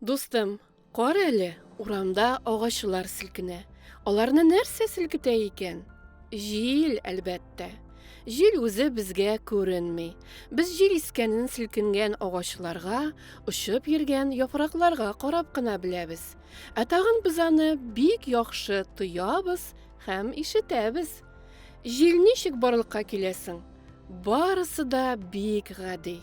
Дустым, кар әле, урамда агачлар селкенә. Аларны нәрсә селкетә икән? Җил, әлбәттә. Җил үзе безгә күренми. Без җил искәнен селкенгән агачларга, очып йөргән яфракларга карап кына беләбез. Ә тагын без аны бик яхшы тоябыз һәм ишетәбез. Җил ничек барлыкка киләсең? Барысы да бик гади.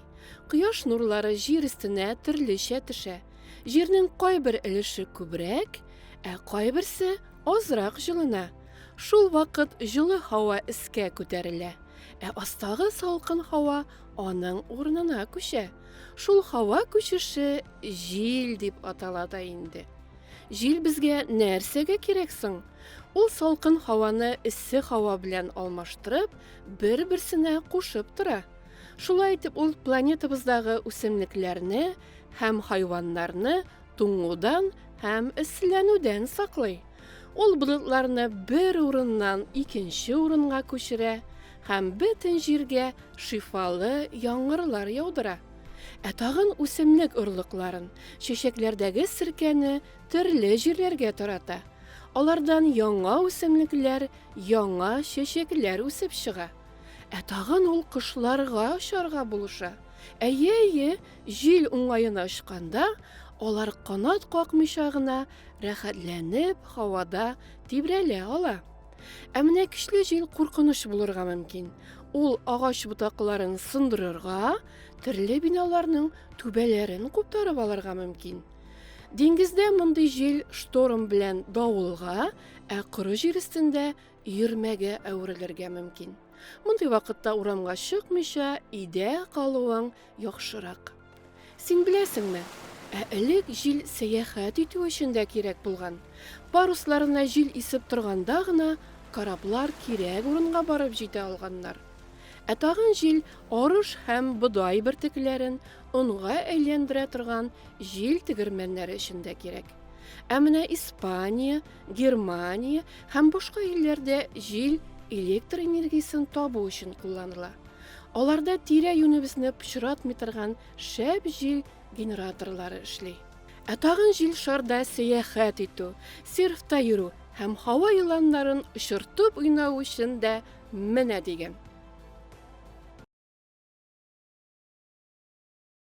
Кояш нурлары җир өстенә төрлечә төшә. Җирнең кайбер өлеше күбрәк, ә кайберсе азрак җылына. Шул вакыт җылы һава искә күтәрелә, ә астагы салкын һава Аның урынына күчә. Шул һава күчеше җил дип атала да инде. Җил безгә нәрсәгә кирәк соң? Ул салкын һаваны эссе һава белән алмаштырып, бер-берсенә кушып тора. Шулай итеп ул планетабыздагы үсемлекләрне һәм хайваннарны туңудан һәм эсселәнүдән саклый. Ул болытларны бер урыннан икенче урынга күчерә һәм бөтен җиргә шифалы яңгырлар яудыра. Ә тагын үсемлек орлыкларын, чәчәкләрдәге серкәне төрле җирләргә тарата. Алардан яңа үсемлекләр, яңа чәчәкләр үсеп чыга. Ә тагын ул кошларга очарга булыша. Әйе, әйе, Җил уңаена очканда, алар канат какмыйча гына рәхәтләнеп һавада тибрәлә ала. Ә менә көчле җил куркыныч булырга мөмкин. Ул агач ботакларын сындырырга, төрле биналарның түбәләрен куптарып алырга мөмкин. Диңгездә мондый җил шторм белән давылга, ә коры җир өстендә өермәгә әверелергә мөмкин. Мондый вакытта урамга чыкмыйча, өйдә калуың Яхшырак. Син беләсеңме, ә элек җил сәяхәт итү өчен дә кирәк булган. Парусларына җил исеп торганда гына кораблар кирәк урынга барып җитә алганнар. Ә тагын җил арыш һәм бодай бөртекләрен онга әйләндерә торган җил тегермәннәре өчен дә кирәк. Ә менә Испания, Германия һәм башка илләрдә җил электр энергиясен табу өчен кулланыла. Аларда тирә-юнебезне пычратмый торган шәп җил генераторлары эшли. Ә тагын җил шарда сәяхәт итү, серфта йөрү һәм һава еланнарын очыртып уйнау өчен дә менә дигән.